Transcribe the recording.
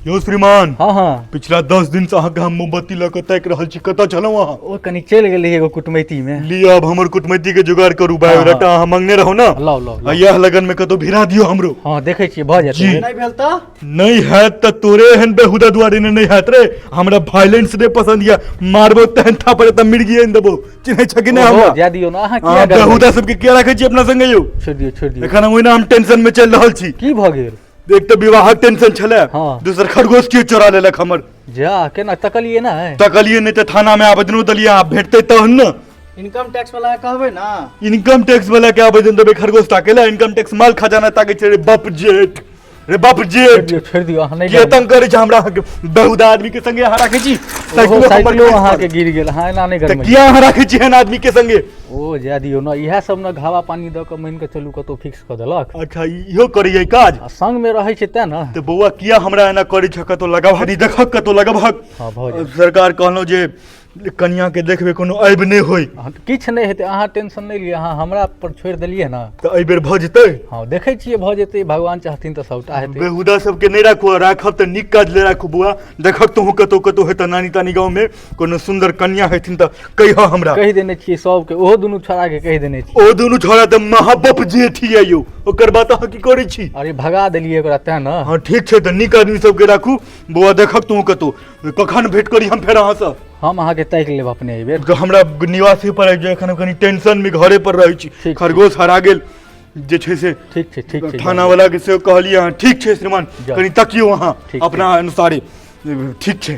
यौ श्रीमान हँ हँ पिछला दस दिन से अहाँके हम मोमबत्ती लऽ कऽ ताकि रहल छी कतऽ छलहुँ अहाँ ओ कनी चलि गेल रही एगो कुटमैती मे लिअ अब हमर कुटमैती के जुगाड़ करू बायोडाटा अहाँ मंगने रहू ने लाउ लाउ आ लाउ। यह लगन में कतौ भिरा दियो हमरो हँ देखै छियै भऽ जी। जेतै नहि भेल तऽ नहीं है त तोरे एहन बेहुदा दुआरे ने नहीं हैत रे हमरा वायलेंस डे पसंद या मारबो तहन था पर त मिर्गी एन देबो चिन्है छै कि नहि ओहो, हमरा जाय दियौ ने अहाँ किया अहाँ डरबै? बेहुदा सबके किया राखै छी अपना संगे यौ छोड़ि दियौ छोड़ि दियौ एखन हम ओहिना हम टेंशन में चलि रहल छी की भऽ गेल एक तऽ विवाहक टेंशन छलै दोसर खरगोश केओ चोरा लेलक हमर जा केना तकलिए ना है तकलिए नहि तऽ थाना में आवेदनो देलियै आब भेटतै तहन ने इनकम टैक्स वाला के कहबै ना इनकम टैक्स वाला के आवेदन देबै खरगोश ताके लए इनकम टैक्स माल खजाना ताके छै रे बाप जेठ रे बाप जे दियौ छोड़ि दियौ अहाँ नहि के तंग करै छै हमरा अहाँके बहुत आदमी के संगे अहाँ राखै छी ओहो साइकिलो हमर साइकिलो खरीद अहाँके पड़ल। गिर गेल अहाँ एना नहि तऽ गरमै किया अहाँ राखै छी एहन आदमी के संगे ओ जाय दियौ ने इएह सब ने घावा पानी दऽ कऽ मानि कऽ चलू कतौ फिक्स कऽ देलक अच्छा इहो करैए काज आ संग मे रहै छै तें ने तऽ बौआ किया हमरा एना करै छ कतौ लगाबहक नहि देखक कतौ लगाबहक हँ, भऽ जायत। सरकार कहलहुँ जे कनियाके देखबै कोनो ऐब नहि होय अहाँ तऽ किछु नहि हेतै अहाँ टेंशन नहि लिअ अहाँ हमरा पर छोड़ि देलियै ने तऽ एहि बेर भऽ जेतै हँ देखै छियै भऽ जेतै भगवान चाहथिन तऽ सभटा हेतै बेहुदा सबके नहि राखू आ राखब तऽ नीक काज ले राखू बौआ देखब तोहूँ कतौ कतौ हेतऽ नानी तानी गाँवमे कोनो सुन्दर कन्या हेथिन तऽ कहिहऽ हमरा कहि देने छियै सभके ओहो दुनू छोड़ाके कहि देने छियै ओ दुनू छोड़ा तऽ महाबप जेठ यऽ यौ ओकर बात अहाँ की करै छी अरे भगा देलियै ओकरा तेँ ने हँ ठीक छै तऽ नीक आदमी सबके राखू बौआ देखब तोहूँ कतौ कखन भेट करी हम फेर अहाँ से हम अहाँ के तैक लेब अपने एहि बेर हमरा निवासी पर आबि जाय एखन हम कनी टेंशन में घरे पर रहै छी ठीक। खरगोश हरा गेल जे छै से ठीक छै ठीक छै थाना वाला के से कहलिए अहाँ ठीक छै श्रीमान जाउ। कनी तकियो अहाँ ठीक छै। अपना अनुसारे ठीक छै